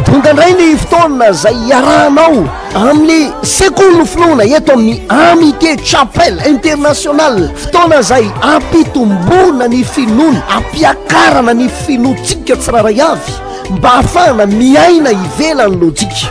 Tonga indray ny fotoana izay hiarahanao amin'ny sekoly no finoana eto amin'ny Amitié Chapelle Internationale. Fotoana izay ampitomboana ny finoana, ampiakarana ny finoantsika tsirairay avy mba hahafahana miaina ivelan'ny lojika.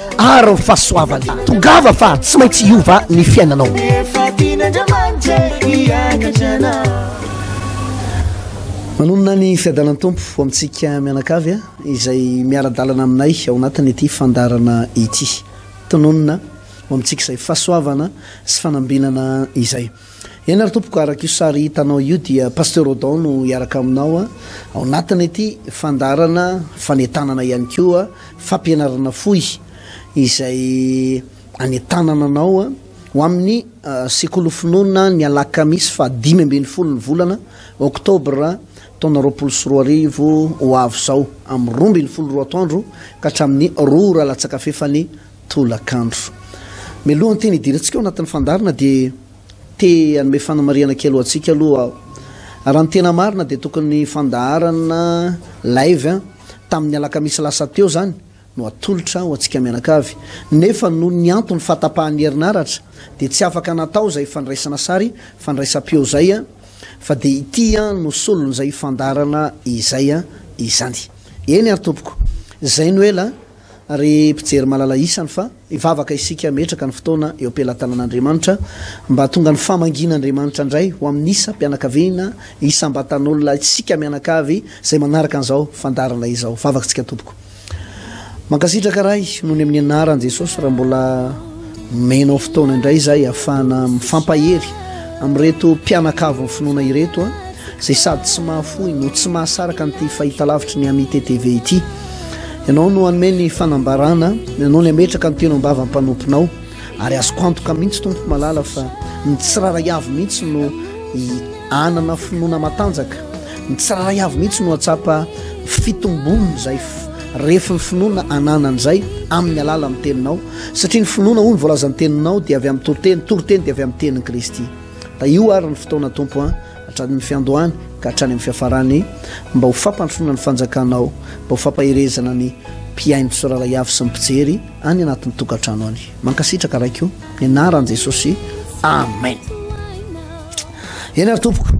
Ary ny fahasoavany. Tongava fa tsy maintsy hiova ny fiainanao. Efa tian'Andriamanitra hiakatra anao. Manonona ny fiadanan'ny Tompo ho amintsika mianakavy izay miara-dalana aminay ao anatin'ity fandaharana ity. Tononina ho amintsika izay fahasoavana sy fanambinana izay. Eny ary tompoko, araka io sary hitanao io dia Pasteur Odon no hiaraka aminao ao anatin' ity fandaharana fanentanana ihany koa fampianarana fohy izay anentanana anao ho amin' ny Sekoly Finoana ny alakamisy faha dimy ambin'ny folo ny volana oktobra taona roapolo sy roa arivo ho avy izao amin' ny roa ambin'ny folo roa atoandro ka hatramin' ny roa ora latsaka fefany tolakandro. Mialoha ny teny hidirantsika ao anatin'ny fandaharana dia te hanome fanamarihana kely ho antsika aloha aho. Raha ny tena marina dia tokony ny fandaharana live tamin'ny alakamisy lasa teo izany no atolotra ho antsika mianakavy. Nefa noho ny antony fahatapahan'ny herinaratra dia tsy afaka natao izay fandraisana sary fandraisam-peo izay fa dia ity no solon'izay fandaharana izay izany. Eny ary tompoko. Izay no ela. Ry mpijery malala isany fa hivavaka isika hametraka ny fotoana eo am-pelatanan'Andriamanitra mba hahatonga ny famangian'Andriamanitra indray ho amin'ny isam-pianakaviana, isam-batan'olona, isika mianakavy izay manaraka an'izao fandaharana izao. Vavak'tsika tompoko. Mankasitraka Ray noho ny amin'ny anaran'i Jesosy raha mbola. Nomenao fotoana indray izay hahafahana mifampahery amin'ireto mpianakavin'ny finoana ireto a, izay sady tsy mahafoy no tsy mahasaraka an'ity fahitalavitry ny Amite TV ity. Ianao no hanome ny fanambarana, Ianao no hametraka ny teny am-bavan'ny mpanomponao, ary azoko antoka mihitsy Tompo malala fa ny tsirairay avy mihitsy no hanana finoana matanjaka, ny tsirairay avy mihitsy no hahatsapa fitombon'izay Refy ny finoana ananany izay amin'ny alalan'ny teninao, satria ny finoana hoy ny voalazan'ny teninao dia avy amin'ny toriteny, toriteny dia avy amin'ny tenin'i Kristy. Da io ary ny fotoana Tompo an, hatramin'ny fiandohany ka hatrany amin'ny fiafarany, mba ho fampandrosoana ny fanjakanao, mba ho fampaherezana ny mpihaino tsoralay avy sy ny mpijery any anatin'ny tokantrano any. Mankasitraka Raiko o, ny anaran'i Jesosy, Amen. Eny ary Tompoko.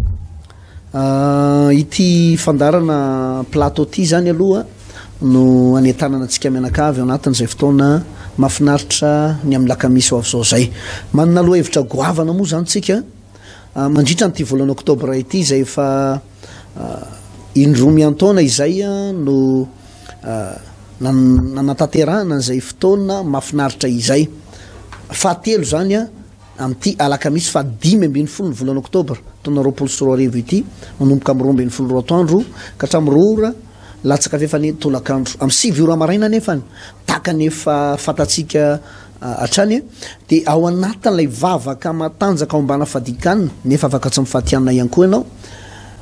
Ity fandaharana Plato ity izany aloha no anentanana antsika mianakavy ao anatin'izay fotoana mahafinaritra ny amin'ny lakamisy ho avy izao izay. Manana lohahevitra goavana moa izany isika mandritra an'ity volana oktobra ity izay efa indroa miantaona izay no nanatanterahana an'izay fotoana mahafinaritra izay. Fahatelo izany. Amin'ity alakamisy faha dimy ambin'ny folo ny volana oktobra taona roapolo sy roa arivo ity, manomboka amin'ny roa ambin'ny folo roa atoandro ka hatramin'ny roa ora latsaka fahefany eny tolakandro, amin'ny sivy ora maraina anefa tahaka ny efa fantatsika hatrany dia ao anatin'ilay vavaka matanjaka ao ambana fadikana nefa afaka tsy mifatianina ihany koa ianao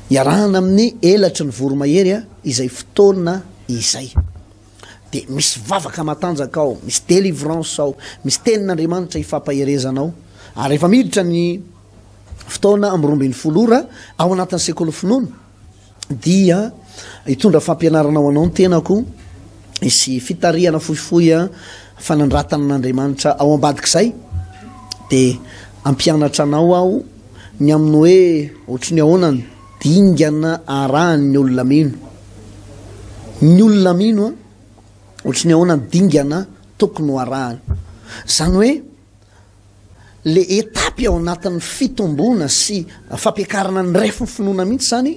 iarahana amin'ny elatry ny voromahery izay fotoana izay. dia misy vavaka matanjaka ao, misy délivrance ao, misy tenin'Andriamanitra ifampaherezana ao, ary rehefa miditra ny fotoana amin'ny roa ambin'ny folo ora ao anatin'ny sekoly finoana dia hitondra fampianarana ho anao ny tenako isy fitarihana fohifohy a fanandratana an'Andriamanitra ao ambadik'izay dia ampianatra anao aho ny amin'ny hoe ohatry ny ahoanany Dingana arahan' ny olona mino. Ny olona mino an, ohatry ny ahoana ny dingana tokony ho arahany. Izany hoe le etapy ao anatin' ny fitomboana sy fampiakarana ny ref ny finoana mihitsy izany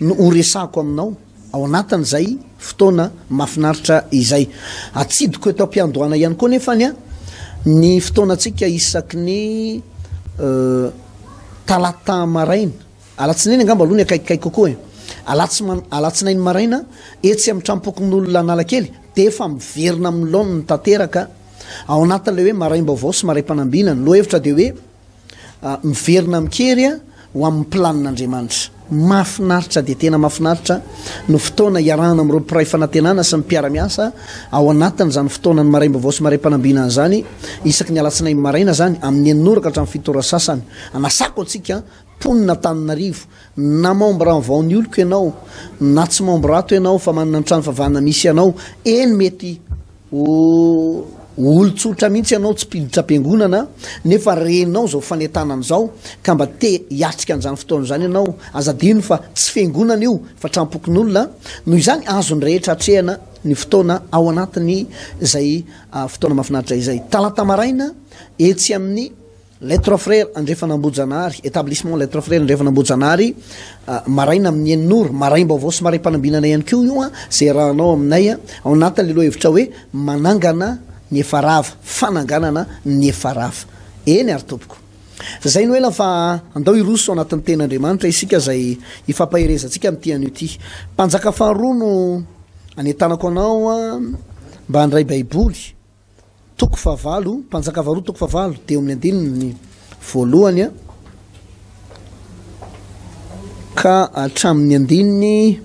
no ho resahako aminao ao anatin' izay fotoana mahafinaritra izay. Atsidiko eto am-piandohana ihany koa anefa ny ny fotoanantsika isaky ny talata maraina. Alatsinainy angamba aloha ny akaikikaiky kokoa e! Alatsy ma, alatsinainy maraina, etsy amin'ny Tranompokonolona Analakely, dia efa miverina amin'ny laoniny tanteraka ao anatin'ilay hoe maraim-baovao sy maraim-panambina. Ny lohahevitra dia hoe miverina amin-kery ho amin'ny planin'Andriamanitra. Mahafinaritra dia tena mahafinaritra ny fotoana iarahana amin'ireo mpiray fanantenana sy ny mpiara-miasa ao anatin'izany fotoanan'ny maraim-baovao sy maraim-panambinana izany, isaky ny alatsinainy maraina izany, amin'ny enina ora ka hatramin'ny fito ora sasany. Anasako antsika mponina Antananarivo, na membre en vao ny oloko ianao, na tsy membre ato ianao fa manana ny trano fivavahana misy anao, eny mety ho olon-tsotra mihitsy ianao tsy mpiditra am-piangonana nefa renao izao fanentanana izao ka mba te hiatrika an'izany fotoana izany ianao, aza adino fa tsy fiangonana io fa tram-pokonolona, noho izany azon'ny rehetra atrehana ny fotoana ao anatin'izay fotoana mahafinaritra izay. Talata maraina etsy amin'ny. Les Trois Frères Andrefan'Ambojanary, Etablissement Les Trois Frères Andrefan'Ambojanary, maraina amin'ny enina ora, maraim-baovao sy maraim-panambinana ihany koa io an, izay arahanao aminay an, ao anatin'ilay lohahevitra hoe manangana ny efa rava, fananganana ny efa rava. Eny ary tompoko. Izay no ela fa andao hiroso ao anatin'ny tenin'Andriamanitra isika izay hifampaherezantsika amin'ity anio ity. Mpanjaka faharoa no anentanako anao an, mba handray Baiboly Toko fahavalo, Mpanjaka faharoa toko fahavalo, teo amin'ny andininy voalohany ka hatramin'ny andininy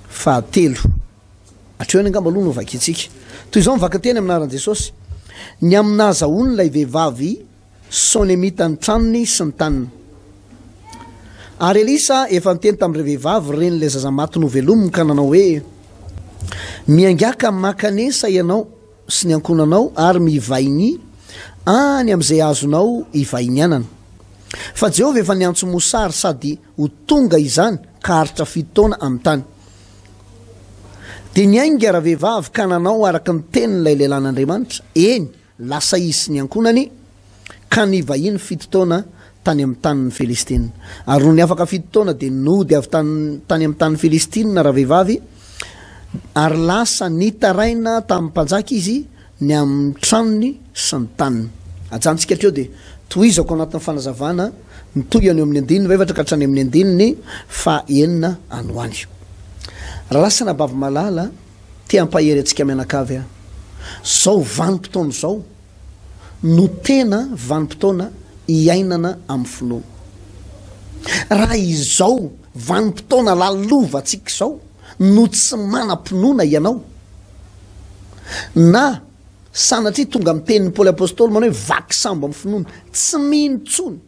fahatelo. Hatreo any angamba aloha no vakintsika. Toy izao ny vakan-teny amin'ny anaran'i Jesosy. Ny amin'ny nahazahoany ilay vehivavy Sonemita ny tranony sy ny taniny. Ary Elisa efa niteny tamin'ireo vehivavy ren'ilay zaza maty novelominy ka nanao hoe, Miangaka mankanesa ianao sy ny ankohonanao ary mivaigny any amin'izay azonao ivaignianana. Fa Jehovah efa niantso Mosà ary sady ho tonga izany ka haharitra fito taona amin'ny tany. Dia niainga ravehivavy ka nanao araka ny tenin'ilay lehilahin'Andriamanitra, eny, lasa izy sy ny ankohonany Ka nivahiny fito taona tany amin'ny tanin'ny Filistina. Ary nony afaka fito taona, dia nody avy tany tany amin'ny tanin'ny Filistina ravehivavy, ary lasa nitaraina tamin'ny mpanjaka izy ny amin'ny tranony sy ny taniny. Ajanontsika hatreo, dia tohizako ao anatin'ny fanazavana ny tohiny eo amin'ny andininy fahaefatra ka hatrany amin'ny andininy fahaenina any ho any. Ralasana baby malala, te hampahery antsika mianakavy aho. Izao vanim-potoana izao, no tena vanim-potoana iainana amin'ny finoana. Raha izao vanim-potoana lalovantsika izao no tsy manam-pinoana ianao, na sanatria tonga amin'ny tenin'i Paoly Apostoly manao hoe vaky sambo amin'ny finoana, tsy mino intsony.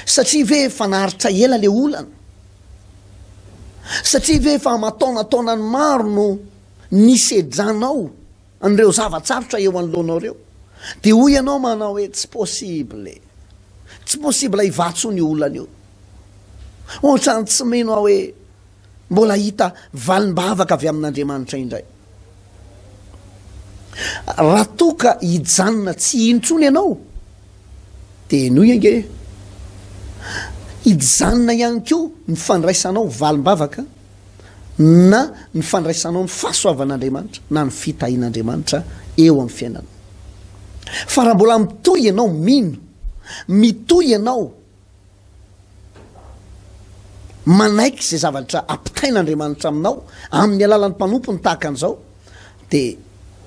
Satria ve efa naharitra ela ilay olana? Satria ve efa aman-taonantaonany maro no nisedranao? An'ireo zava-tsarotra eo anoloanao ireo, dia hoy ianao manao hoe, Tsy possible. Tsy possible hivatsona io olana io. Ohatrany tsy mino aho hoe mbola hahita valim-bavaka avy amin'Andriamanitra indray. Raha toa ka hijanona tsy hino intsony ianao, dia henoy ange hoe hijanona ihany koa ny fandraisanao valim-bavaka. na ny fandraisanao ny fahasoavan'Andriamanitra na ny fitahian'Andriamanitra eo amin'ny fiainanao. Fa raha mbola mitohy ianao mino, mitohy ianao manaiky izay zavatra ampitain'Andriamanitra aminao amin'ny alalan'ny mpanompony tahaka an'izao, dia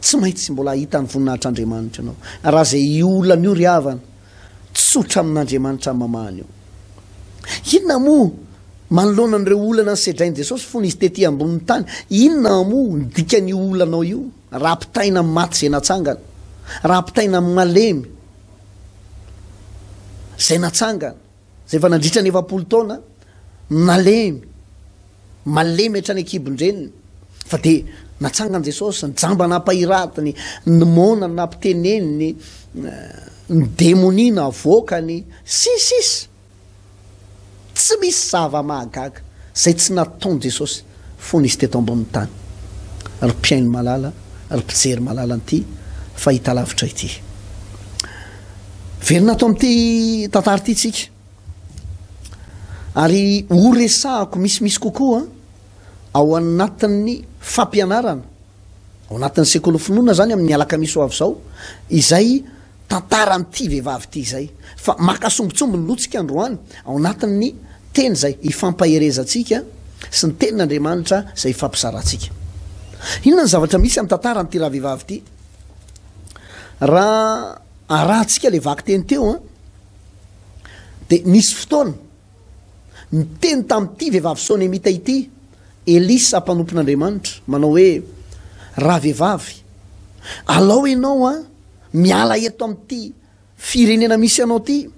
tsy maintsy mbola hahita ny voninahitr'Andriamanitra ianao. Raha izay olana io ry havana, tsotra amin'Andriamanitra amamahany eo. Inona moa, manoloana an'ireo olana nosedrain'i Jesosy fony Izy tetỳ ambonin'ny tany, inona moa no dikan'io olanao io, raha ampitaina amin'ny maty izay natsangana, raha ampitaina amin'ny malemy izay natsangana? Izay efa nandritra ny efapolo taona nalemy, malemy hatrany an-kibon-dreniny, fa dia natsangan'i Jesosy, ny jamba nampahiratiny, ny moana nampiteneniny, ny demonia navoakany, sy ny sisa Tsy misy zava-mahagaga izay tsy nataon'i Jesosy. fony izy teto ambonin'ny tany. Ry mpihaino malala, ry mpijery malala an'ity fahitalavitra ity. Velona ato amin'ity tantara ity tsika. Ary horesahako misimisy kokoa ao anatin'ny fampianarana. ao anatin'ny sekoly finoana izany amin'ny alakamisy ho avy izao izay tantaran'ity vehivavy ity izay fa maka sombitsomby ny lotsika androany ao anatin'ny teny izay ifampaherezantsika sy ny tenin'Andriamanitra izay ifampizarantsika. Inona ny zavatra misy amin'ny tantaran'ity ravehivavy ity? Raha arahantsika ilay vakiteny teo, dia nisy fotoana Niteny tamin'ity vehivavy Sonemita ity Elisa mpanompon'Andriamanitra, manao hoe, Ravehivavy, alao ianao an, miala eto amin'ity firenena misy anao ity,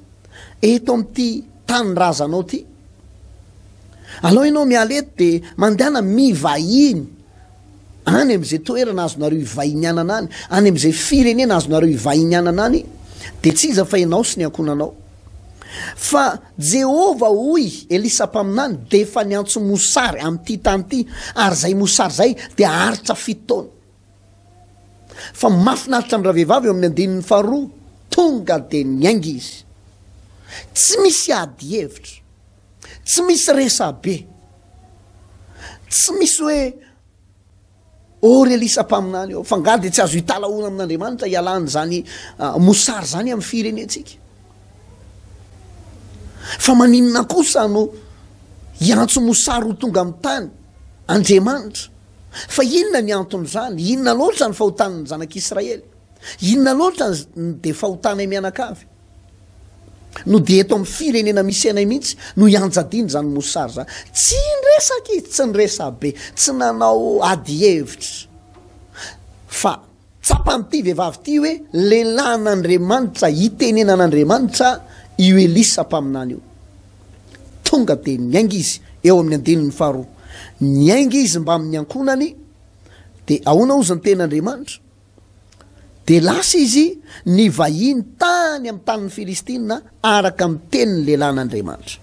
eto amin'ity tanindrazanao ity. Alao ianao miala eto dia mandehana mivahiny. Any amin'izay toerana azonareo ivahinianana any, any amin'izay firenena azonareo ivahinianana any, dia tsy iza fa ianao sy ny ankohonanao. Fa Jehovah hoy Elisa mpaminany dia efa niantso mosary amin'ity tany ity, ary izay mosary izay dia haharitra fito taona. Fa mahafinaritra ny ravehivavy eo amin'ny andininy faharoa, tonga dia niainga izy. Tsy misy ady hevitra. Tsy misy resabe. Tsy misy hoe oh ry Elisa mpaminany oh, fa ngaha dia tsy azo hitalahoana amin'Andriamanitra hialana izany ah, mosary izany amin'ny firenentsika. Fa maninona kosa no hiantso mosary ho tonga amin'ny tany Andriamanitra? Fa inona ny anton'izany? Inona loatra ny fahotan'ny zanak'Israely? Inona loatra ny dia fahotanay mianakavy? no dia eto amin'ny firenena misy anay mihitsy no ianjadiana izany mosary izany. Tsy niresaka izy, tsy niresabe, tsy nanao ady hevitra. Fa tsapan'ity vehivavy ity hoe lehilahin'Andriamanitra itenenan'Andriamanitra io Elisa mpaminany io. Tonga dia niainga izy eo amin'ny andininy faharoa. Niainga izy mbamin'ny ankohonany dia ahoana ozy ny tenin'Andriamanitra? Dia lasa izy nivahiny tany amin'ny tanin'ny Filistina, araka ny tenin'ny lehilahin'Andriamanitra.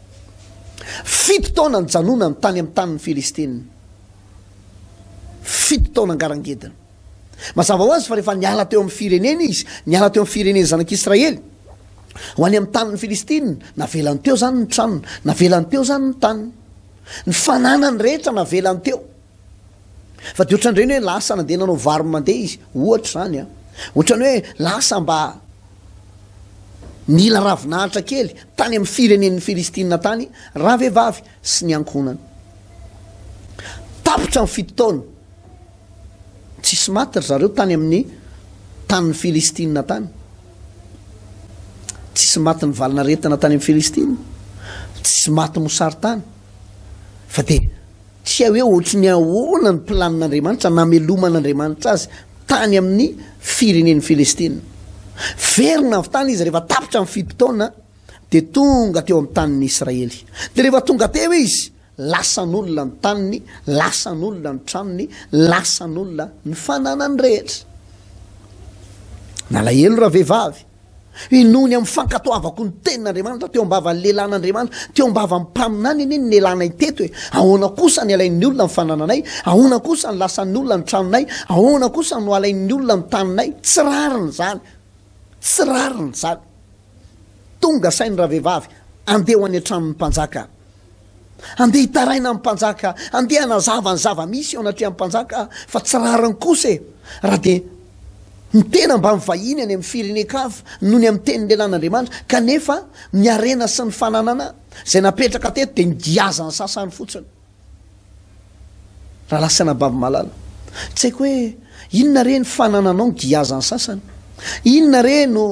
Fito taona nijanonany tany amin'ny tanin'ny Filistina. Fito taona ngarangediny. Mazava ho azy fa rehefa niala teo amin'ny fireneny izy, niala teo amin'ny firenen'ny zanak'Israely, ho any amin'ny tanin'ny Filistina, navelany teo izany ny tranony, navelany teo izany ny taniny. Ny fananany rehetra navelany teo. Fa dia ohatran'ireny hoe lasa nandeha nanao vary mandeha izy, ohatra izany an! Ohatran'ny hoe lasa mba nila ravinahitra kely tany amin'ny firenen'ny Filistina tany ravehivavy sy ny ankohonany. Tapitra ny fito taona, tsisy maty ry zareo tany amin'ny tanin'ny Filistina tany. Tsisy maty nivalanaretina tany amin'ny Filistina, tsisy maty mosary tany. Fa dia Tsy hay hoe ohatry ny ahoana ny planin'Andriamanitra nameloman'Andriamanitra azy tany amin'ny firenen'i Filistina. Verina avy tany izy rehefa tapitra ny fito taona, dia tonga teo amin'ny tanin'ny Israely. Dia rehefa tonga teo izy, lasan'olona ny taniny, lasan'olona ny tranony, lasan'olona ny fananany rehetra. Nalahelo ravehivavy. Inoany amin'ny fankatoavako ny tenin'Andriamanitra teo am-bavan'ny lehilahin' Andriamanitra, teo am-bavan'ny mpaminany anie ny nelanay teto e! Ahoana kosa ny alain'ny olona ny fanananay? Ahoana kosa ny lasan'ny olona ny tranonay? Ahoana kosa no alain'ny olona ny taninay? Tsy rariny izany! Tsy rariny izany! Tonga sain'ny ravehivavy, Andeha ho any an-tranon'ny mpanjaka aho. Andeha hitaraina ny mpanjaka, andeha hanazava ny zava-misy eo anatrehan'ny mpanjaka fa tsy rariny kosa e! Raha dia ny tena mba mivahiny any amin'ny firenen-kafa noho ny amin'ny teny lehilahy an'Andriamanitra kanefa ny harena sy ny fananana izay napetraka teto dia nigiazan'ny sasany fotsiny. Rahalahy sy anabavy malala, tsy haiko hoe inona re ny fanananao nigiazan'ny sasany? Inona re no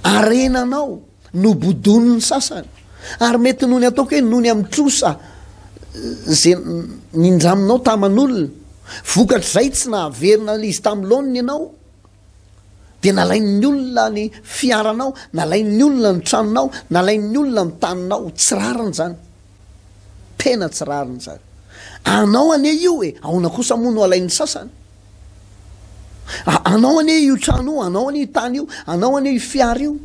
harenanao? Nobodoin'ny sasany ary mety noho ny ataoko hoe noho ny amin'ny trosa ze nindraminao taman'olona, vokatr'izay tsy nahaverina izy tamin'ny laoniny ianao, dia nalain'ny olona ny fiaranao, nalain'ny olona ny tranonao, nalain'ny olona ny taninao, tsy rariny izany, tena tsy rariny izany, anao anie io e, aona kosa moa no alain'ny sasany? Anao anie io trano io, anao anie io tany io, anao anie io fiara io,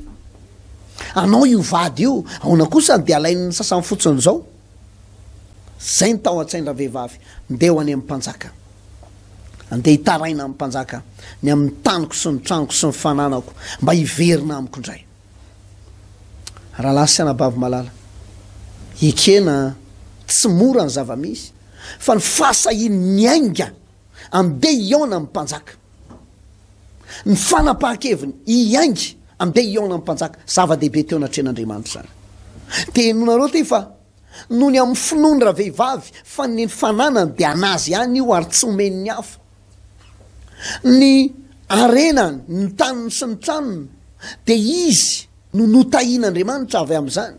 anao io vady io, aona kosa no dia alain'ny sasany fotsiny izao? Zay ny tao an-tsain-dravehivavy, ndeha ho any amin'ny mpanjaka. Andeha hitaraina amin'ny mpanjaka ny amin'ny taniko sy ny tranoko sy ny fananako mba hiverina amiko indray. Rahalahy sy anabavy malala, ekena tsy mora ny zava-misy fa ny fahasahian'ny miainga Andeha hihaona amin'ny mpanjaka. Ny fanapahan-keviny hiainga andeha hihaona amin'ny mpanjaka, zava-dehibe teo anatrehan'Andriamanitra izany. Te henonareo ty fa noho ny amin'ny finoany ravehivavy fa ny fananany dia anazy ihany io ary tsy homen'ny hafa. Ny harenany, ny taniny sy ny tranony dia izy no notahian'Andriamanitra avy amin'izany.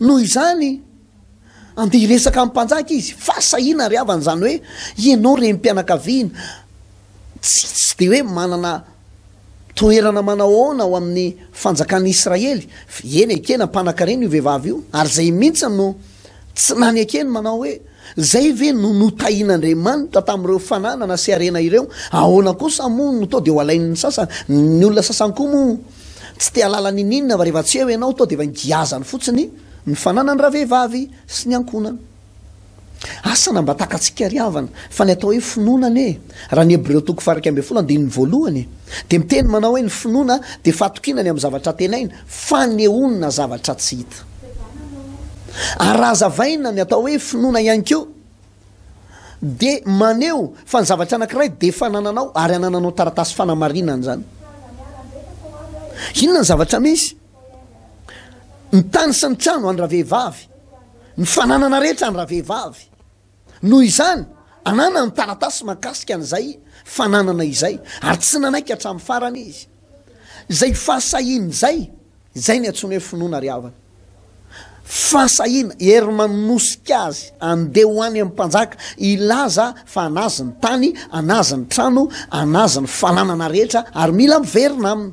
Noho izany Andeha hiresaka amin'ny mpanjaka izy fa sahina ry havana, izany hoe ianao renim-pianakaviana tsy tsy dia hoe manana toerana manao ahoana ao amin'ny fanjakan'i Israely, eny ekena mpanan-karena io vehivavy io ary izay mihitsy no tsy lany ekeny manao hoe izay ve no notahian'Andriamanitra tamin'ireo fananana sy harena ireo, ahoana kosa moa no toa dia ho alain'ny sasany, ny olona sasany koa moa. Tsy te halala n'ininona fa rehefa tsy eo ianao toa dia efa ingiazany fotsiny ny fananany ravehivavy sy ny ankohonany. Asa na mba takatsika ry havana fa ny atao hoe finoana anie raha ny Hebreo toko fahairaika ambin'ny folo andininy voalohany e dia miteny manao hoe ny finoana dia fahatokiana ny amin'ny zavatra tenaina, fanehoana zavatra tsy hita. Ary raha hazavaina ny atao hoe finoana ihany koa. dia maneho fa ny zavatra anankiray dia efa anananao ary anananao taratasy fanamarinana izany. Inona ny zavatra misy? Ny tany sy ny trano any ravehivavy, ny fananana rehetra any ravehivavy. Noho izany, ananany taratasy makasika an'izay fananana izay ary tsy nanaiky hatramin'ny farany izy. Izay fahasahiana izay, izay no antsoina hoe finoana ry havana. Fahasahiana, hery manosika azy handeha ho any amin'ny mpanjaka hilaza fa an'azy ny tany, an'azy ny trano, an'azy ny fananana rehetra ary mila miverina aminy.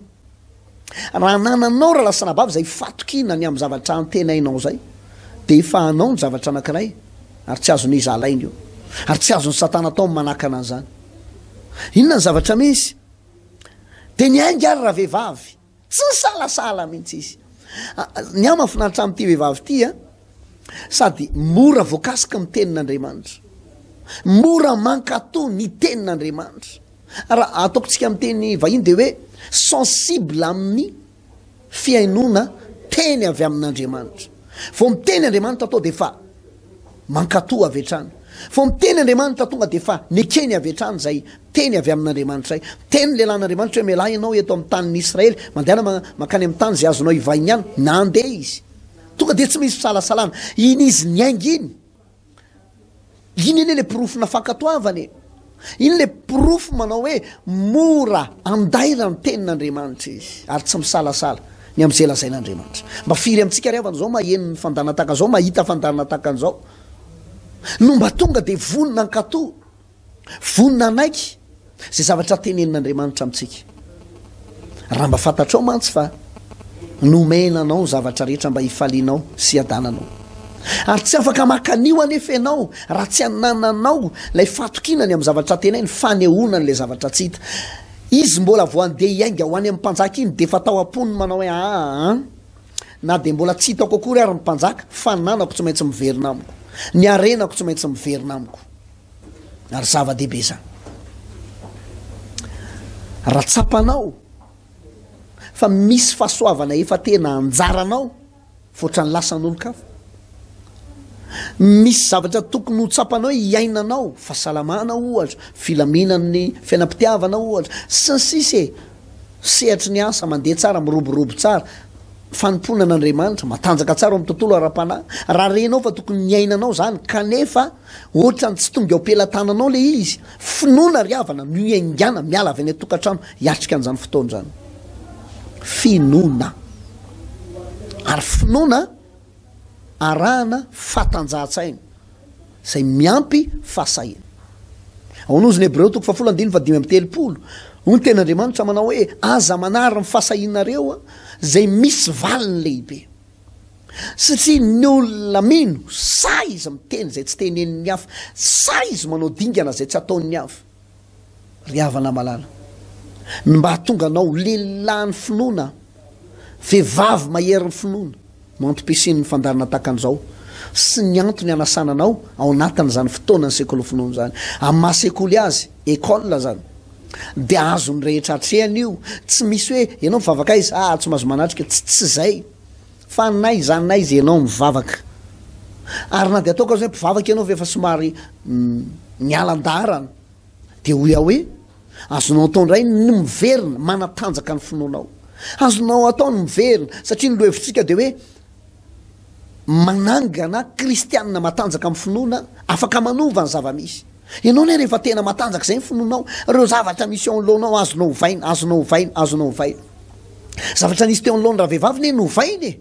Raha anananao ry lasanabavy izay fatokiana ny amin'ny zavatra antenainao izay dia efa anao ny zavatra anankiray ary tsy azon'iza alaina io ary tsy azon'i Satana atao ny manakana an'izany. Inona ny zavatra misy? Dia niainga ary ravehivavy, tsy nisalasala mihitsy izy. Ny ahy mahafinaritra amin'ity vehivavy ity a, sady mora voakasika ny tenin'Andriamanitra, mora mankatò ny tenin'Andriamanitra. Raha ataoko tsika amin'ny teny vahiny dia hoe sensible amin'ny Fihainoana teny avy amin'Andriamanitra. Vao miteny Andriamanitra atao dia efa mankatò avy hatrany. Vao miteny Andriamanitra tonga dia efa nekeny avy hatrany izay teny avy amin'Andriamanitra izay. Niteny ny lehilahin'Andriamanitra hoe, Mialà ianao eto amin'ny tanin'Israely, mandehana mankany amin'ny tany izay azonao ivahiniana. Nandeha izy. Tonga dia tsy misy fisalasalana, iny izy niainga iny. Iny anie le porofona fankatoavana e! Iny le porofo manao hoe mora andaira ny tenin'Andriamanitra izy ary tsy misalasala ny amin'izay lazain'Andriamanitra. Mba firy amintsika ry havana izao maheno ny fandanan-tahaka an'izao, mahita fandanan-tahaka an'izao no mba tonga dia vonona hankato Vonona hanaiky izay zavatra tenenin'Andriamanitra amintsika. Raha mba fantatrao mantsy fa nomena anao ny zavatra rehetra mba hifalianao sy hiadananao. Ary tsy afaka maka an'io anefa ianao raha tsy anananao ilay fatokiana ny amin'ny zavatra tenainy, fanehoana an'ilay zavatra tsy hita. Izy mbola vao handeha hiainga ho any amin'ny mpanjaka iny dia efa tao am-pony manao hoe aa na dia mbola tsy hitako akory ary ny mpanjaka, fananako tsy maintsy miverina amiko, ny harenako tsy maintsy miverina amiko. Ary zava-dehibe izany. Raha tsapanao fa misy fahasoavana efa tena anjaranao foatra ny lasan'olon-kafa, misy zavatra tokony ho tsapanao hiainanao, fahasalamana ohatra, filaminan'ny fiainam-pitiavana ohatra, sy ny sisa e, sehatry ny asa mandeha tsara, miroborobo tsara, fanompoana an'Andriamanitra, matanjaka tsara ao amin'ny tontolo ara-panahy, raha renao fa tokony niainanao izany kanefa Otrany tsy tonga eo pelatananao le izy, finoana ry havana no ihaingana miala avy any antokatrano hiatrika anzany fotoana zany. Finoana. Ary finoana arahana fatanjahatsaina zay miampy fahasahiana. Ao an'ozy ny Hebreo toko fahafolo andininy fahadimy amby telopolo, hoy ny tenan-Andriamanitra manao hoe aza manary ny fahasahianareo zay misy valiny lehibe. Satria ny olona mino, sa izy miteny izay tsy tenenin'ny hafa, sa izy manao dingana izay tsy ataon'ny hafa. Ry havana malala, ny mba hahatonga anao ho lehilahin'ny finoana, vehivavy maherin'ny finoana, no antom-pisian'ny fandaharana tahaka an'izao sy ny antony hanasana anao ao anatin'izany fotoanan'ny sekoly finoana izany, amin'ny maha-sekoly azy, école, izany. Dia azon'ny rehetra hatrehina io, tsy misy hoe ianao mivavaka aiza ah tsy mahazo manatrika, tsy tsy izay fa n'aiza n'aiza ianao mivavaka. Ary na dia ataoko aza hoe mpivavaka ianao fa efa somary niala an-daharana dia hoy aho hoe azonao atao indray ny miverina manatanjaka ny finoanao. Azonao atao ny miverina satria ny lohevitsika dia hoe Manangana kristianina matanjaka amin'ny finoana afaka manova ny zava-misy. Ianao anie rehefa tena matanjaka izay ny finoanao, ireo zavatra misy eo anoloanao azonao ovaina, azonao ovaina, azonao ovaina. Zavatra nisy teo anoloan'ny ravehivavy anie novaina e!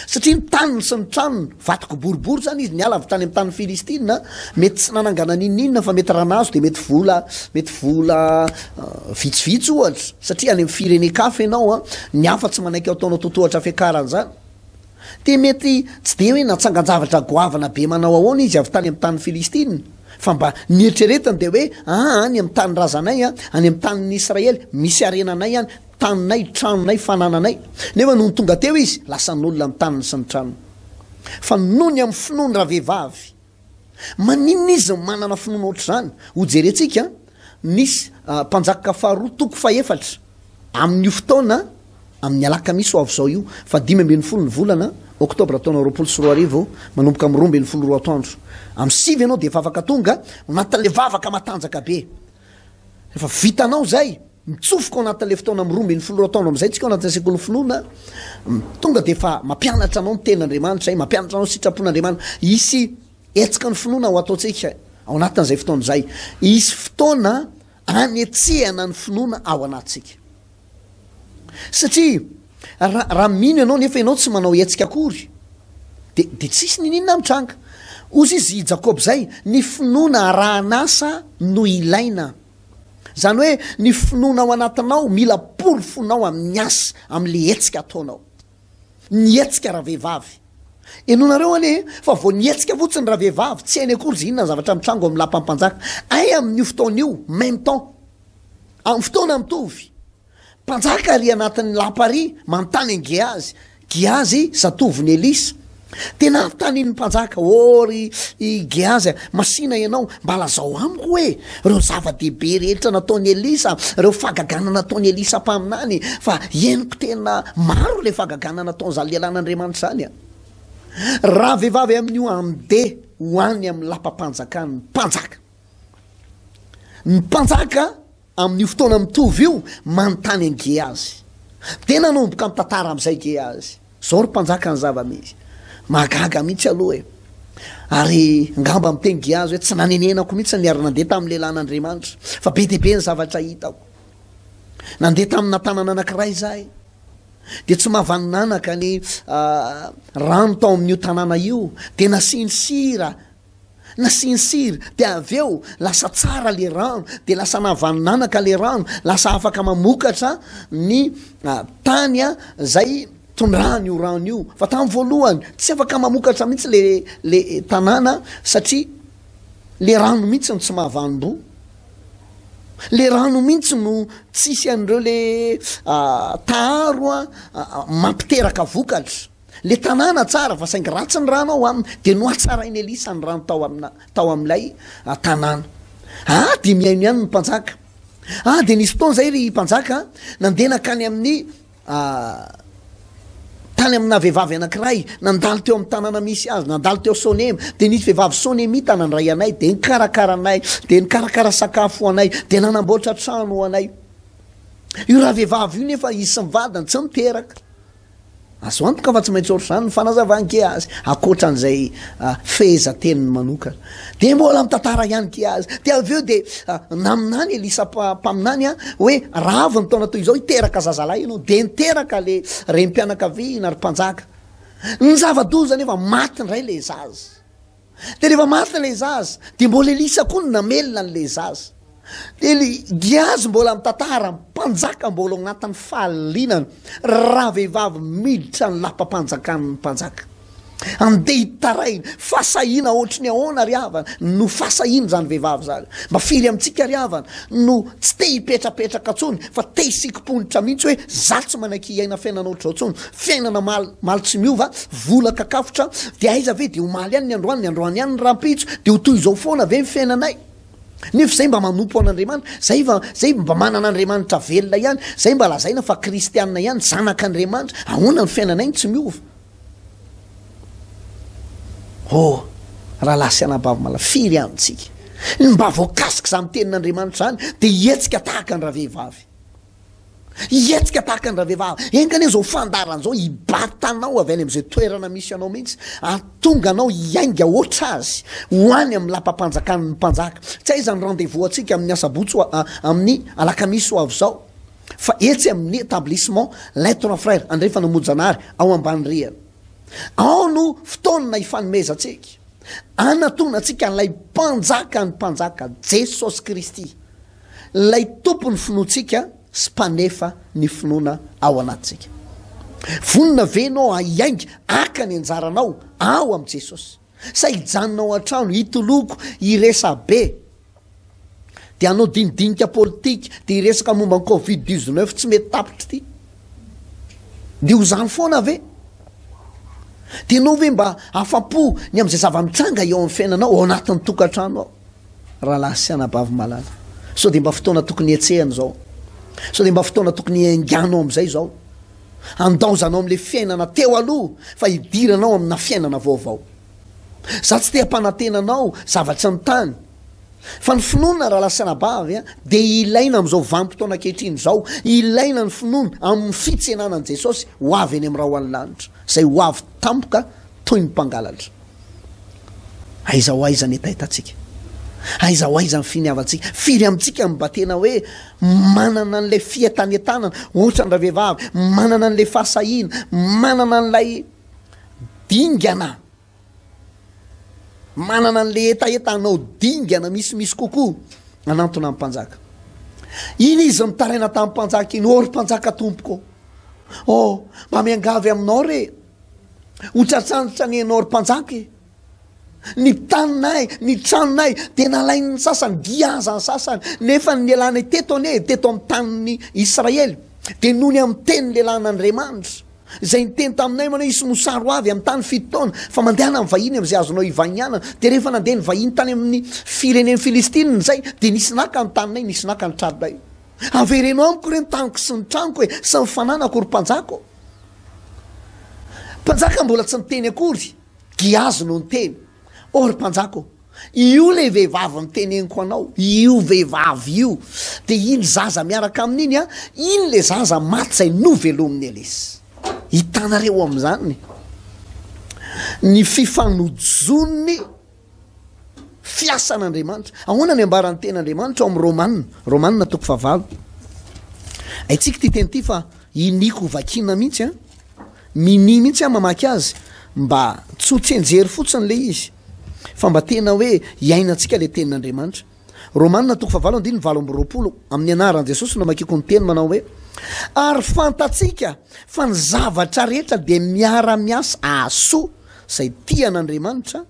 Satria ny taniny sy ny tranony, vato kiboribory izany izy, niala avy tany amin'ny tanin'ny Filistina, Mety tsy nanangana n'inon'inona fa mety raha nahazo dia mety vola, mety vola vitsivitsy ohatra, satria any amin'ny firenen-kafa ianao an, ny hafa tsy manaiky ataonao totohatra fiakarana izany. Dia mety tsy dia hoe natsangan-javatra goavana be manao ahoana izy avy tany amin'ny tanin'i Filistina, fa mba ny eritreretiny dia hoe aa any amin'ny tanindrazanay an, any amin'ny tanin'ny Israely, misy harenanay any, taninay, tranonay, fanananay. Nefa nony tonga teo izy, lasan'olona ny taniny sy ny tranony. Fa nony amin'ny finoany ravehivavy. Maninona izy no manana finoana ohatr'izany? Hojerentsika ny Mpanjaka faharoa toko fahefatra amin'io fotoana amin'ny alakamisy ho avy izao io, fahadimy ambin'ny folo ny volana oktobra taona roapolo sy roa arivo, manomboka amin'ny roa ambin'ny folo roa atoandro. Amin'ny sivy ianao dia efa afaka tonga ao anatin'ilay vavaka matanjaka be. Rehefa vitanao izay, mitsofoka ao anatin'ilay fotoana amin'ny roa ambin'ny folo ireo taona amin'izay tsika ao anatin'ilay sekolin'ny finoana, tonga dia efa mampianatra anao ny tenin'Andriamanitra izay, mampianatra anao ny sitrapon'Andriamanitra. Hisy hetsika ny finoana ho ataontsika ao anatin'izay fotoana izay. Hisy fotoana hanetsehana ny finoana ao anatintsika. Satria raha raha mino ianao nefa ianao tsy manao hetsika akory de de tsisy nininona mitranga. Ozy izy i Jakoba izay, ny finoana arahan'asa no ilaina. Zany hoe ny finoana ao anatinao mila porofonao amin'ny asa, amin'le hetsika ataonao. Ny hetsika ravehivavy. Henonareo anie fa vao ny hetsika fotsiny ravehivavy tsy hainy akory ze inona ny zavatra mitranga ao amin'ny lapan'ny mpanjaka. Hay amin'io fotoana io, même temps, Amin'ny fotoana mitovy, mpanjaka àry anatin'ny lapa àry manontany an'i Gehazy, Gehazy, zatovon'i Elisa. Dia nanontanian'ny mpanjaka, Ô ry Gehazy, masìna ianao, mba lazao amiko hoe ireo zava-dehibe rehetra nataon'i Elisa, ireo fahagagana nataon'i Elisa mpaminany, fa henoko tena maro ilay fahagagana nataon'izany lehilahin'Andriamanitra izany. Rahavehivavy amin'io, andeha ho any amin'ny lapam-panjakana ny mpanjaka. Ny mpanjaka amin'io fotoana mitovy io manontany an'i Gehazy. Dia nanomboka mitantara amin'izay Gehazy. Izao ry mpanjaka ny zava-misy. Mahagaga mihitsy aloha e! Ary angamba miteny Gehazy hoe, Tsy nanenenako mihitsy ny niara-nandeha tamin'ny lehilahin'Andriamanitra, fa be dia be ny zavatra hitako. Nandeha tamina tanana anankiray izahay, dia tsy mahavanin'anaka ny rano tao amin'io tanàna io, dia nasiany sira, Nasiany sira dia avy eo lasa tsara le rano dia lasa nahavanin'anaka le rano, lasa afaka mamokatra ny tany zay tondrahany io rano io fa tamin'ny voalohany tsy afaka mamokatra mihitsy le le tanàna satria le rano mihitsy no tsy mahavanim-boa, le rano mihitsy no tsisy an'ireo le taharo mampiteraka vokatra. le tanàna tsara fa saingy ratsy ny rano ao aminy de nohatsarain'i elisa ny rano tao amina tao amin'ilay ah, tanàna a ah, de mihaino ihany ny mpanjaka a ah, de nisy fotoana zay ry mpanjaka nandeha nankany amin'ny tany amina vehivavy anankiray nandalo teo amin'ny tanàna misy azy nandalo teo sonema de nisy vehivavy sonemita nandray anay de nikarakara anay de nikarakara sakafo ho anay de nanamboatra trano ho anay io raha vehivavy io nefa isy mivadiny tsy miteraka Azo antoka fa tsy maintsy ohatr'izany ny fanazavan Gehazy, ankoatran'izay fehezanteniny manokana. Dia mbola mitantara ihany Gehazy. Dia avy eo dia naminany Elisa mpaminany hoe, Raha avy ny taona toy izao hiteraka zazalahy ianao. Dia niteraka ilay renim-pianakaviana, ry mpanjaka. Ny zava-doza anefa, maty indray ilay zaza. de rehefa maty ilay zaza de mbola elisa koa no namelona an'ilay zaza de le giazy mbola mitantara mpanjaka mbola ao anatin'ny fahalianana raha vehivavy miditra ny lapam-panjakan'ny mpanjaka andeha hitaraina fasahiana ohatry ny ahoana ry havana no fasahiana izany vehivavy izany mba firy amintsika ry havana no tsy te hipetrapetraka ntsony fa te hisikim-ponitra mihitsy hoe za tsy manaiky hiaina fiainana ohatr'izao ntsony Fiainana maly, maly tsy miova, vola kakafotra, dia aiza ve dia omaly ihany ny androany, ny androany ihany ny rahampitso, dia ho toy izao foana ve ny fiainanay? Nefa izay mba manompo an'Andriamanitra, izay va, izay mba manana Andriamanitra velona ihany, izay mba lazaina fa kristiana ihany, zanak'Andriamanitra, ahoana ny fiainanay no tsy miova? Oh, rahalahy sy anabavy malala, firy amintsika no mba voakasik'izany tenin'Andriamanitra izany dia hihetsika tahaka ny ravehivavy? Hihetsika tahaka ny ravehivavy. Enga anie izao fandaharana izao hibata anao avy any amin'izay toerana misy anao mihitsy, hahatonga anao hiainga hoatra azy, ho any amin'ny lapam-panjakan'ny Mpanjaka. Tsy hay izany rendez-vous antsika amin'ny asabotsy ho a, amin'ny alakamisy ho avy izao, fa etsy amin'ny Etablissement L'Être Frère, andrefana Mojanary, ao Ambanirihana. Ao no fotoana hifanomezantsika, hanatona antsika an'ilay Mpanjakan'ny Mpanjaka, Jesosy Kristy, Ilay Tompon'ny finoantsika sy Mpanefa ny finoana ao anatintsika. Vonona ve ianao hahainga haka ny anjaranao ao amin'i Jesosy? Sa hijanona ao an-trano, hitoloko, hiresabe, dia hanao dinidinika politika, dia hiresaka momba ny covid dix-neuf tsy mety tapitra ity? Dia ho izany foana ve? Dia ianao ve mba afa-po ny amin'izay zava-mitranga eo amin'ny fiainanao ao anatin'ny tokantrano ao? Rahalahy sy anabavy malala, sao dia mba fotoana tokony hihetsehana izao? Sao dia mba fotoana tokony hiainganao amin'izay izao? Handaozanao amin'ilay fiainana teo aloha fa hidiranao amina fiainana vaovao. Izaho tsy te hampanantena anao zavatry ny tany, fa ny finoana, rahalahy sy anabavy a, dia ilaina amin'izao vanim-potoana ankehitriny izao. Ilaina ny finoana amin'ny fitsenana an'i Jesosy ho avy eny amin'ny rahona ny lanitra, izay ho avy tampoka toy ny mpangalatra. Aiza ho aiza ny hetahetatsika? Aiza ho aiza ny finiavantsika? Firy amintsika no mba tena hoe manana an'ilay fientanentanana, ohatra ny ravehivavy, manana an'ilay fahasahiana, manana an'ilay dingana, manana an'ilay hetaheta hanao dingana misimisy kokoa hanantona ny mpanjaka? Iny izy mitaraina tamin'ny mpanjaka iny, ô ry mpanjaka tompoko ô, ô, mba miangavy aminao re, Ho tratr'antitra nihaino ry mpanjaka e! Ny taninay, ny tranonay dia nalain'ny sasany, dia aza ny sasany. Nefa ny lehilahinay teto anie, teto amin'ny tanin'i Israely, dia noho ny amin'ny tenin'ny lehilahin'Andriamanitra, izay niteny taminay manao, Hisy mosary ho avy amin'ny tany fito taona, fa mandehana amin'ny vahiny amin'izay azonao ivahinianana. Dia rehefa nandeha ny vahiny tany amin'ny firenen'ny Filistina izay, dia nisy naka ny taninay, nisy naka ny tranonay. Avereno amiko re ny taniko sy ny tranoko e, sy ny fananako ry mpanjaka ô! Mpanjaka mbola tsy niteny akory, Giazy no niteny, Oh ry mpanjaka ô, io ilay vehivavy niteneniko anao, io vehivavy io, dia iny zaza miaraka aminy iny, iny ilay zaza maty izay novelomin'i Elisy. Hitanareo amin'izany ny fifanojon'ny Fiasan'Andriamanitra. Ahoana ny ambaran'ny teny Andriamanitra ao amin'ny Romana, Romana toko fahavalo. Haintsika ity teny ity fa iniako ho vakiana mihitsy an. Minia mihitsy aho mamaky azy mba tsy ho tsenjery fotsiny ilay izy fa mba tena hoe hiainantsika ilay tenin'Andriamanitra. Romana toko fahavalo andininy valo amby roapolo, Amin'ny anaran'i Jesosy no amakiako ny teny manao hoe, Ary fantatsika fa ny zavatra rehetra dia miara-miasa hahasoa izay tia an'Andriamanitra,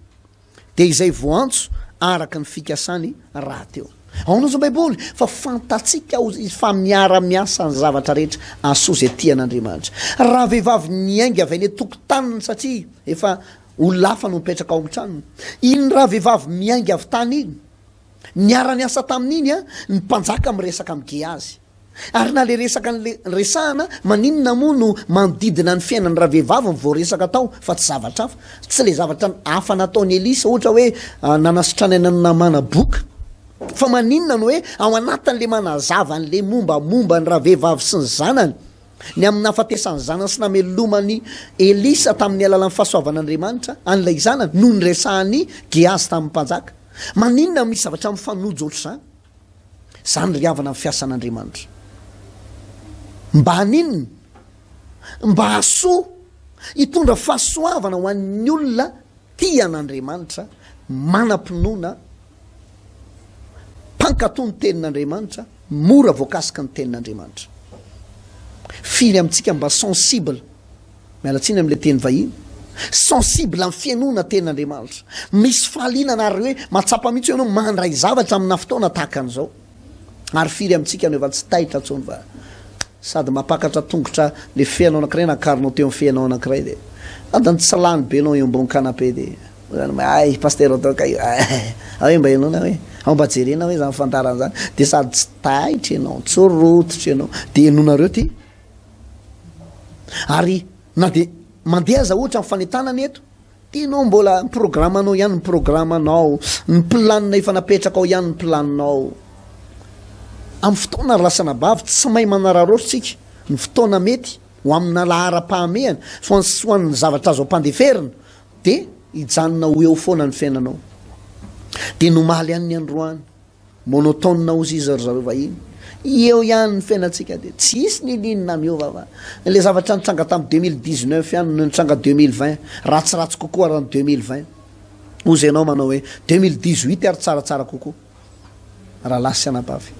dia izay voantso araka ny fikasany rahateo. Ahoana hozy ny Baiboly fa fantatsika hozy izy fa miara-miasa ny zavatra rehetra hahasoa izay tia an'Andriamanitra? Raha vehivavy niainga avy any an-tokotaniny satria efa Olona hafa no mipetraka ao amin'ny tranony. Iny ravehivavy miainga avy tany iny, niara-niasa taminy iny an, ny mpanjaka miresaka amin'i Gehazy. Ary na ilay resaka nle, resahana, maninona moa no manodidina ny fiainan'ny ravehivavy no voaresaka tao fa tsy zavatra hafa? Tsy ilay zavatra hafa nataon'i Elisa, ohatra hoe nanasitranaina an'i Namana boka. Fa maninona no hoe ao anatin'ilay manazava an'ilay mombamomba ny ravehivavy sy ny zanany, Ny amin'ny nahafatesany ny zanany sy namelomany Elisa tamin'ny alalan'ny fahasoavan'Andriamanitra an'ilay zanany no niresahan'i Gehazy tamin'ny mpanjaka. Maninona no misy zavatra mifanojo hoatr'izany? Izany ry havana ny fiasan'Andriamanitra. Mba haninona? Mba hahasoa, hitondra fahasoavana ho an'ny olona tia an'Andriamanitra, manam-pinoana, Mpankatò ny tenin'Andriamanitra, mora voakasiky ny tenin'Andriamanitra. Firy amintsika mba sensible, miala tsiny amin'ilay teny vahiny, sensible amin'ny fihainoana tenin'Andriamanitra. Misy fahalianana ary hoe mahatsapa mihitsy ianao mandray zavatra amina fotoana tahaka an'izao. Ary firy amintsika no efa tsy taitra intsony fa sady mampakatra tongotra le feanao anakiray na akaronao teo am feanao anakiray de adiny tsy lany be anao eo ambony canapé de ay pasteur atao kay io ay hoe mba enoana hoe ao mba jerena hoe zany fantarana zany de sady tsy taitra ianao tsy rototra ianao de enonareo ty ary na de mandeha aza ohatra ny fanentanana eto Tianao mbola ny programanao ihany ny programanao, ny planina efa napetrakao ihany ny planinao. Amin'ny fotoana ry lasanabavy, tsy mahay manararaotra isika, ny fotoana mety ho amina laharam-pahamehana, fa ny ho an'ny zavatra azo ampandeferina, dia hijanona ho eo foana ny fiainanao. Dia nomaly any ny androany. Monotone ozy izy ry zareo vahiny. Eo ihany ny fiainantsika dia tsy hisy ny liny na miova fa ilay zavatra nitranga tamin'ny deux mille dix neuf ihany no nitranga deux mille vingt ratsiratsy kokoa raha ny deux mille vingt. Ozy ianao manao hoe deux mille dix huit ary tsaratsara kokoa. Ralahy sy anabavy.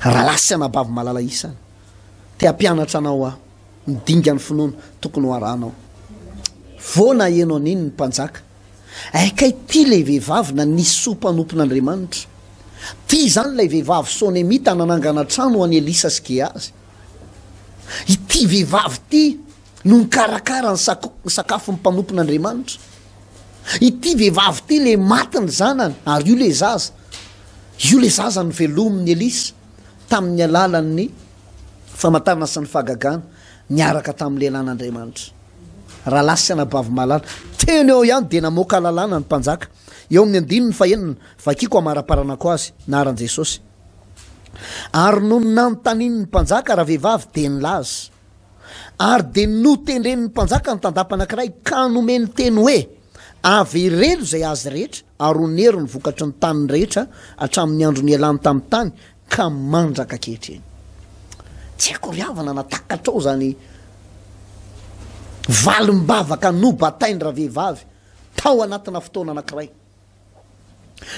Ralahy sy anabavy malala isany. Te hampianatra anao aho. Ny dingan'ny finoana tokony ho arahanao. Voana ianao nino ny mpanjaka. Ay kay tia ilay vehivavy nanisy soa mpanompon' Andriamanitra. Tia izany ilay vehivavy Sonemita nanangana trano ho an'i Elisa sy Gehazy. Ity vehivavy ity no nikarakara ny sakafon'ny mpanompon' Andriamanitra. Ity vehivavy ity ilay maty ny zanany ary io ilay zaza. Io ilay zaza novelomin'i Elisa tamin'ny alalan'ny famantarana sy ny fahagagana niaraka tamin'ny lehilahin' Andriamanitra. Rahalahy sy anabavy malala, teny eo ihany dia namoaka lalàna ny mpanjaka. Eo amin'ny andininy fahenina, vakiko amaraparanako azy, naharan'i Jesosy. Ary nony nanontanian'ny mpanjaka ravehivavy dia nilaza. Ary dia notendren'ny mpanjaka ny tandapa anankiray ka nomeny teny hoe, Avereno izay azy rehetra ary onero ny vokatry ny taniny rehetra hatramin'ny andro nialany tamin'ny tany ka mandraka ankehitriny. Tsy haiko ry havana na takatrao izany valim-bavaka nobatain-dravehivavy tao anatina fotoana anankiray.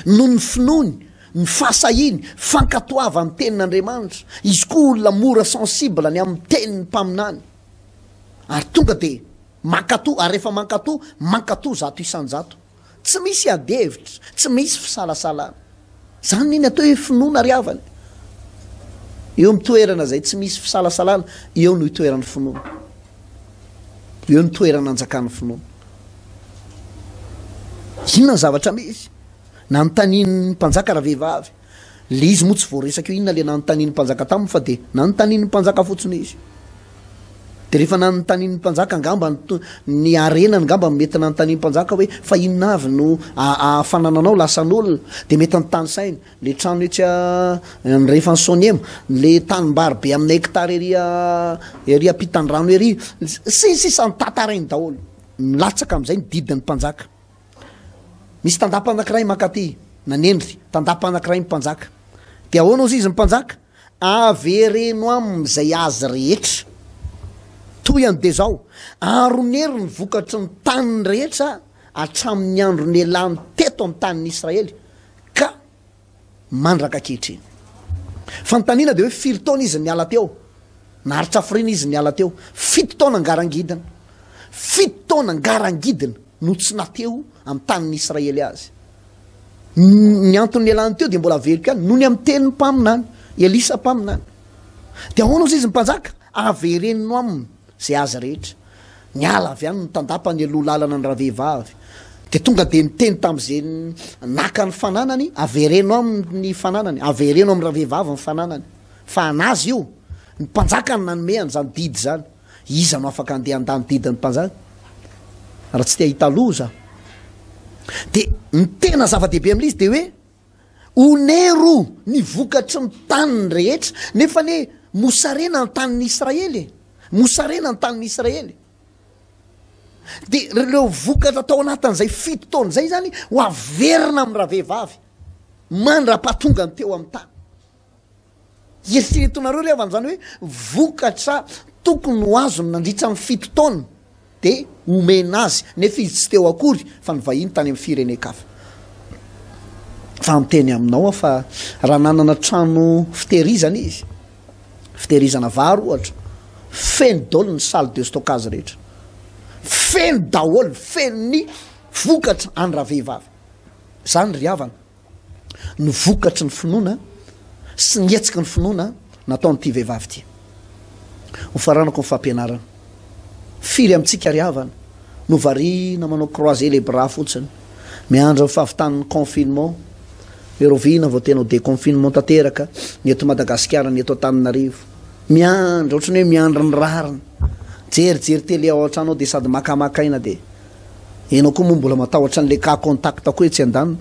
Noho ny finoany, ny fahasahiany, fankatoavany tenin'Andriamanitra, izy koa olona mora sensible ny amin'ny tenin'ny mpaminany, ary tonga dia mankatò, ary rehefa mankatò, mankatò zato isan-jato. Tsy misy adihevitra, tsy misy fisalasalana. Izany ny atao hoe finoana ry havana e! Eo amin'ny toerana izay tsy misy fisalasalana, eo no itoeran'ny finoana. Eo no toerana anjakan'ny finoana. Inona ny zavatra misy? Nanontanian'ny mpanjaka ravehivavy. Le izy moa tsy voaresaka eo inona le nanontanian'ny mpanjaka taminy fa de nanontanian'ny mpanjaka fotsiny izy. De rehefa nanontanian'ny mpanjaka angamba ny harenany ngamba no mety nanontanian'ny mpanjaka hoe fa inona avy no ahafana nanao lasan'olona de mety ny tany sainy, le trano etsy andrefan'i Sonema, le tanimbary be amina hectare ery ery ampitan'ny rano ery sy ny sisa notatarainy daholo. Milatsaka amizay ny didin'ny mpanjaka. Misy tandapa anankiray mankaty, nanendry, tandapa anankiray ny mpanjaka. Dia ahoana hozy izy ny mpanjaka? Avereno aminy izay azy rehetra, toy an'i dia izao, aronero ny vokatry ny taniny rehetra hatramin'ny andron'ny ialany teto amin'ny tanin'i Israely, ka mandraka ankehitriny. Fanontaniana dia hoe firy taona izy niala teo? Naharitra hafiriana izy niala teo. Fito taona ngarangidina. Fito taona ngarangidina no tsy nateo amin'ny tanin'ny Israely azy. Ny antony nialany teo dia mbola averiko ihany, noho ny amin'ny tenin'ny mpaminany, Elisa mpaminany. Dia ahoana ozy izy mpanjaka? Averenino aminy. Izay azy rehetra. Niala avy any ny tandapa nialoha lalana ny ravehivavy. Dia tonga dia niteny tamin'izay naka ny fananany, Avereno aminy ny fananany, avereno amin'ny ravehivavy ny fananany. Fa an'azy io. Ny mpanjaka no nanome an'izany didy izany. Iza no afaka handeha handà ny didin'ny mpanjaka? Raha tsy te hahita loza. Dia ny tena zava-dehibe amin'ilay izy dia hoe. Onero ny vokatry ny taniny rehetra, nefa anie mosarena ny tanin'i Israely e! Mosarena ny tanin'i Israely. Dia ireo vokatra tao anatin'izay fito taona izay zany ho averina amin'ny ravehivavy mandra-pahatongany teo amin'ny tany. Eritreretonareo re havan'izany hoe vokatra tokony ho azony nandritra ny fito taona dia omena azy nefa izy tsy teo akory fa nivahiny tany amin'ny firenen-kafa. Fa miteny aminao aho fa raha nanana trano fitehirizana izy, fitehirizana vary ohatra, feno daholo ny salle de stockage rehetra, feno daholo, feno ny vokatra any ravehivavy. Izany ry havana. ny vokatry ny finoana sy ny hetsiky ny finoana nataon'ity vehivavy ity. Ho faranako ny fampianarana. Firy amintsika ry havana no variana manao croiser les bras fotsiny, miandry ny fahavitan'ny confinement, hoe rahoviana vao tena ho déconfinement tanteraka ny eto Madagasikara, ny eto Antananarivo. Miandry, ohatran'ny hoe miandry ny rariny. Jerijery télé ao an-trano ao dia sady maka maka aina dia. Enao koa moa mbola matahotra an'ilay cas contact koa etsy andaniny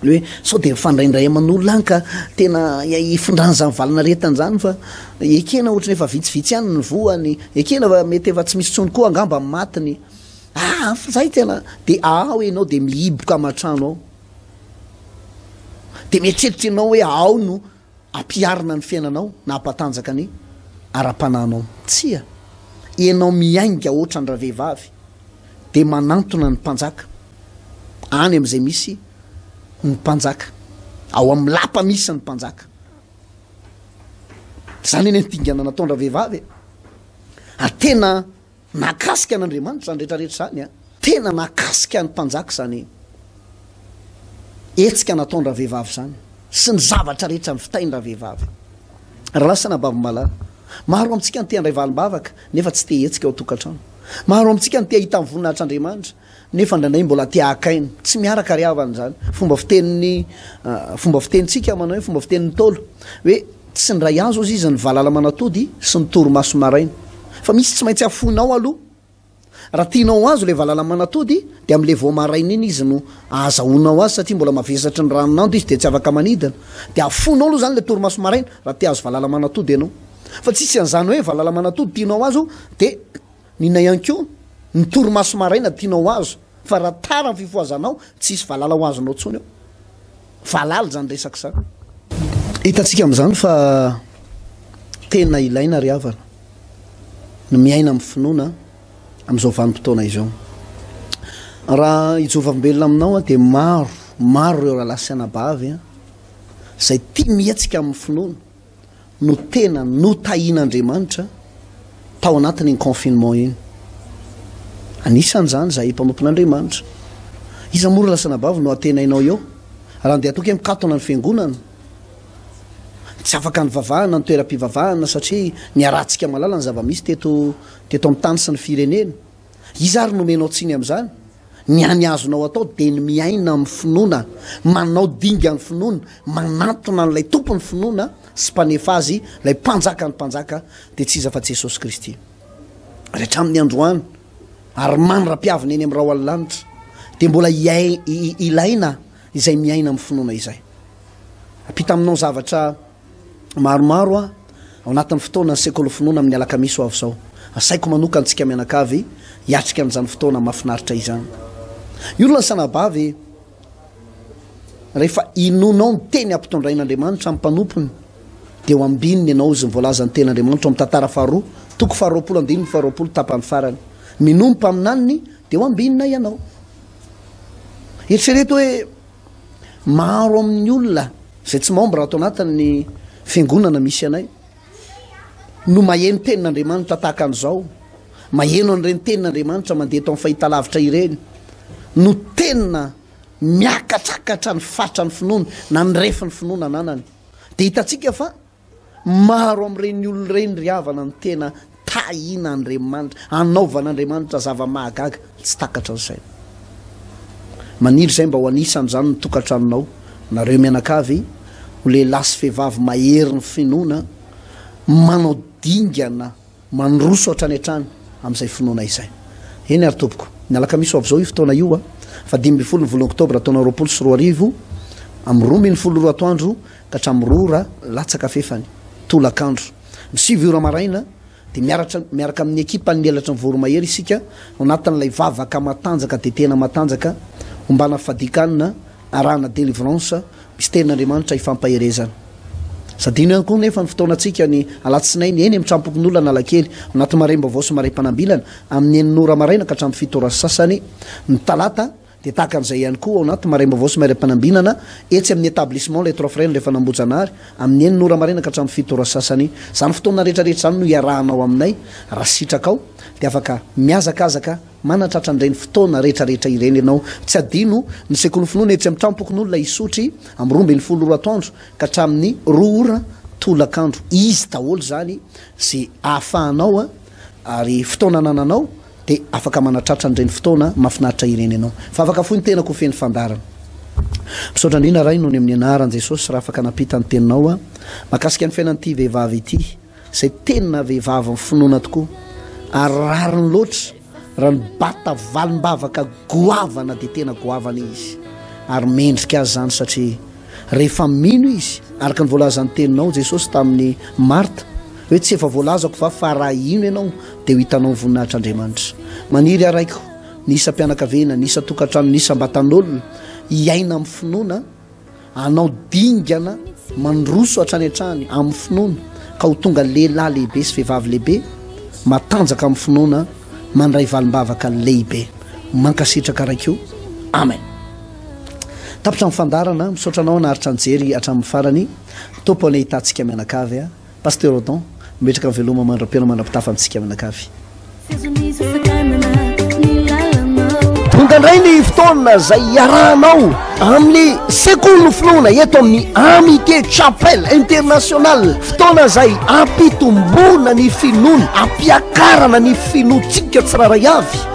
hoe sao dia mifandraindray aman'olona any ka tena hifindrany izany valanaretany izany fa ekena ohatrany efa vitsivitsy ihany ny voany ekena fa mety efa tsy misy tsony koa angamba ny matiny ah fa zay tena de ao ianao de mihiboka aman-trano ao de mieritreritra ianao hoe ao no Hampiharina ny fiainanao na hampatanjaka ny ara-panahinao. Tsia, ianao miainga hoatran'ny ravehivavy dia manantona ny mpanjaka any amin'izay misy ny mpanjaka, ao amin'ny lapa misy ny mpanjaka. Izany anie ny dingana nataon-dravehivavy e! Ary tena. Nahakasika an'Andriamanitra izany rehetra rehetra izany an! Tena nahakasika ny mpanjaka izany hetsika nataon-dravehivavy izany sy ny zavatra rehetra nivitain-dravehivavy. Raha lasa anabavin'ny malala. Maro amintsika no te handray valim-bavaka nefa tsy te hihetsika ao an-tokantrano. Maro amintsika no te hahita ny voninahitr'Andriamanitra nefa indraindray mbola te hahakaino, tsy miaraka ry havana izany, fomba fitenin'ny fomba fitenintsika manao hoe fomba fitenin'ny Ntaolo hoe tsy ndray azo hozy izy ny valala manatody sy ny torimaso maraina fa misy tsy maintsy hafoinao aloha raha tianao ho azo ilay valala manatody dia amin'ilay vao maraina iny izy no ahazahoanao azy satria mbola mavesatry ny ranon'ando izy dia tsy afaka manidina dia hafoinao aloha izany ilay torimaso maraina raha te hahazo valala manatody ianao fa tsy hisy an'izany hoe valala manatody tianao azo dia N'inona ihany koa ny torimaso maraina tianao ho azo fa raha tara ny fifohazanao tsisy valala ho azonao tsony eo. Valala izany resaka izany. Hitantsika amin'izany fa tena ilaina ry havana ny miaina amin'ny finoana amin'izao vanim-potoana izao. Raha i Jehovah velona aminao dia maro, maro ireo rahalahy sy anabavy izay tia mihetsika amin'ny finoana. no tena notahian'Andriamanitra tao anatin'iny confinement iny. Anisan'izany izahay mpanompon'Andriamanitra. Iza moa ry lasanabavy no antenainao eo? Raha andeha toky mikatona ny fiangonana, tsy afaka nivavahana ny toeram-pivavahana satria niharahantsika malala ny zava-misy teto teto amin'ny tany sy ny firenena. Iza ary no omenao tsiny amin'izany? Ny any azonao atao dia ny miaina amin'ny finoana, manao dingan'ny finoana, manantona an'ilay Tompon'ny finoana sy Mpanefa azy, ilay Mpanjakan'ny mpanjaka, dia tsy iza fa Jesosy Kristy. Ary hatramin'ny androany, ary mandra-piaviny eny amin'ny rahona lanitra, dia mbola hiain, ilaina izay miaina amin'ny finoana izay. Ampita aminao zavatra. maromaro aho ao anatin'ny fotoanan'ny Sekoly Finoana amin'ny Alakamisy ho avy izao. Asaiko manokana antsika mianakavy hiatrika an'izany fotoana mahafinaritra izany. Ny olona sanabavy, rehefa inoanao ny teny ampitondrain'Andriamanitra amin'ny mpanompony, dia ho ambininy ianao izy ny voalazan'ny Tenin'Andriamanitra ao amin'ny Tantara faharoa, toko faharoapolo, andininy faharoapolo, tapany farany. Minoa ny mpaminaniny dia ho ambinina ianao. Eritrereto hoe. Maro amin'ny olona izay tsy membre ato anatin'ny fiangonana misy anay no maheno tenin'Andriamanitra tahaka an'izao, maheno an'ireny tenin'Andriamanitra mandeha eto amin'ny fahitalavitra ireny no tena miakatrakatra ny fatrany finoana na ny refin'ny finoana ananany. Dia hitantsika fa Maro amin'ireny olona ireny ry havana no tena tahiana Andriamanitra, anaovan'Andriamanitra zava-mahagaga tsy takatra ny saina. Maniry izay mba ho anisan'izany ny tokantranonao, nareo mianakavy ho lehilahy sy vehivavy maherin'ny finoana, manao dingana. Mandroso hatrany hatrany amin'izay finoana izay. Eny ary tompoko. Ny alakamisy ho avy izao io fotoana io a. Faha dimy ambin'ny folo ny volana oktobra taona roapolo sy roa arivo, amin'ny roa ambin'ny folo ora atoandro ka hatramin'ny roa ora latsaka fefany, tolakandro. Ny sivy ora maraina dia miaratra miaraka amin'ny ekipan'ny Elatry ny Voromahery isika ao anatin'ilay vavaka matanjaka dia tena matanjaka, ombana fadikanina, Arahana delivrance misterin' Andriamanitra ifampaherezana. Sadino ihany koa anefa ny fotoanantsika ny alatsinainy eny amin'ny trampokon'olona Analakely, anaty marem-baovao sy marem-panambilana amin'ny enina ora maraina ka hatramin'ny fito ora sy sasany ny talata dia tahaka an'izay ihany koa ao anaty marem-baovao sy marem-panambinana etsy amin'ny Etablissement Les Trois Frères rehefa an'Ambohijanahary amin'ny enina ora maraina ka hatramin'ny fito ora sy sasany. Izany fotoana rehetra rehetra izany no iarahanao aminay raha sitrakao dia afaka mihazakazaka Manatratra an'ireny fotoana rehetrarehetra ireny ianao. Tsy adino ny Sekolin'ny Finoana etsy amin'ny Tranom-pokonolona Isotry amin'ny roa ambin'ny folo ora atoandro ka hatramin'ny roa ora tolakandro. Izy daholo izany izay ahafahanao ary fotoana anananao dia afaka manatratra an'ireny fotoana mahafinaritra ireny ianao. Fa afaka fohy ny tenako ho feno fandaharana. Misaotra indrindra Ray nony amin'ny anaran'i Jesosy raha afaka nampita ny teninao aho makasika ny fiainan'ity vehivavy ity. Izay tena vehivavin'ny finoana tokoa ary rariny loatra raha ny bata valim-bavaka goavana dia tena goavana izy ary mendrika azy izany satria rehefa mino izy araka ny voalazan'ny teninao Jesosy tamin'i Marta hoe tsy efa voalazako va fa raha hino ianao dia ho hitanao ny voninahitr'Andriamanitra maniry araiko ny isam-pianakaviana, ny isan-tokantrano, ny isam-batan'olona hiaina amin'ny finoana Hanao dingana mandroso hatrany hatrany amin'ny finoana ka ho tonga lehilahy lehibe sy vehivavy lehibe matanjaka amin'ny finoana mandray valim-bavaka lehibe. Mankasitraka Ray koa. Amen. Tapitra ny fandaharana. Misaotra anao naharitra nijery hatramin'ny farany. Tompo anie hitantsika mianakavy a. Pasteur Odon, mametraka ny veloma mandram-piainao mandram-pitafa amintsika mianakavy. Sezon'ny sasakanana ny lalanao. Tonga indray ny fotoana izay hiarahanao amin'ny sekolin'ny finoana eto amin'ny Amitié Chapelle International, fotoana izay ampitomboana ny finoana, ampiakarana ny finoantsika tsirairay avy.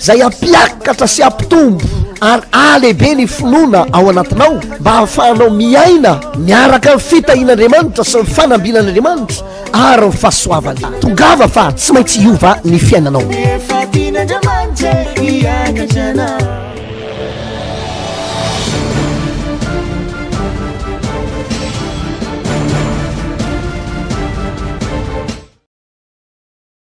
izay hampiakatra sy hampitombo ary hahalehibe ny finoana ao anatinao mba hahafahanao miaina miaraka ny fitahian'Andriamanitra sy ny fanambinan'Andriamanitra ary ny fahasoavany. Tongava fa tsy maintsy hiova ny fiainanao.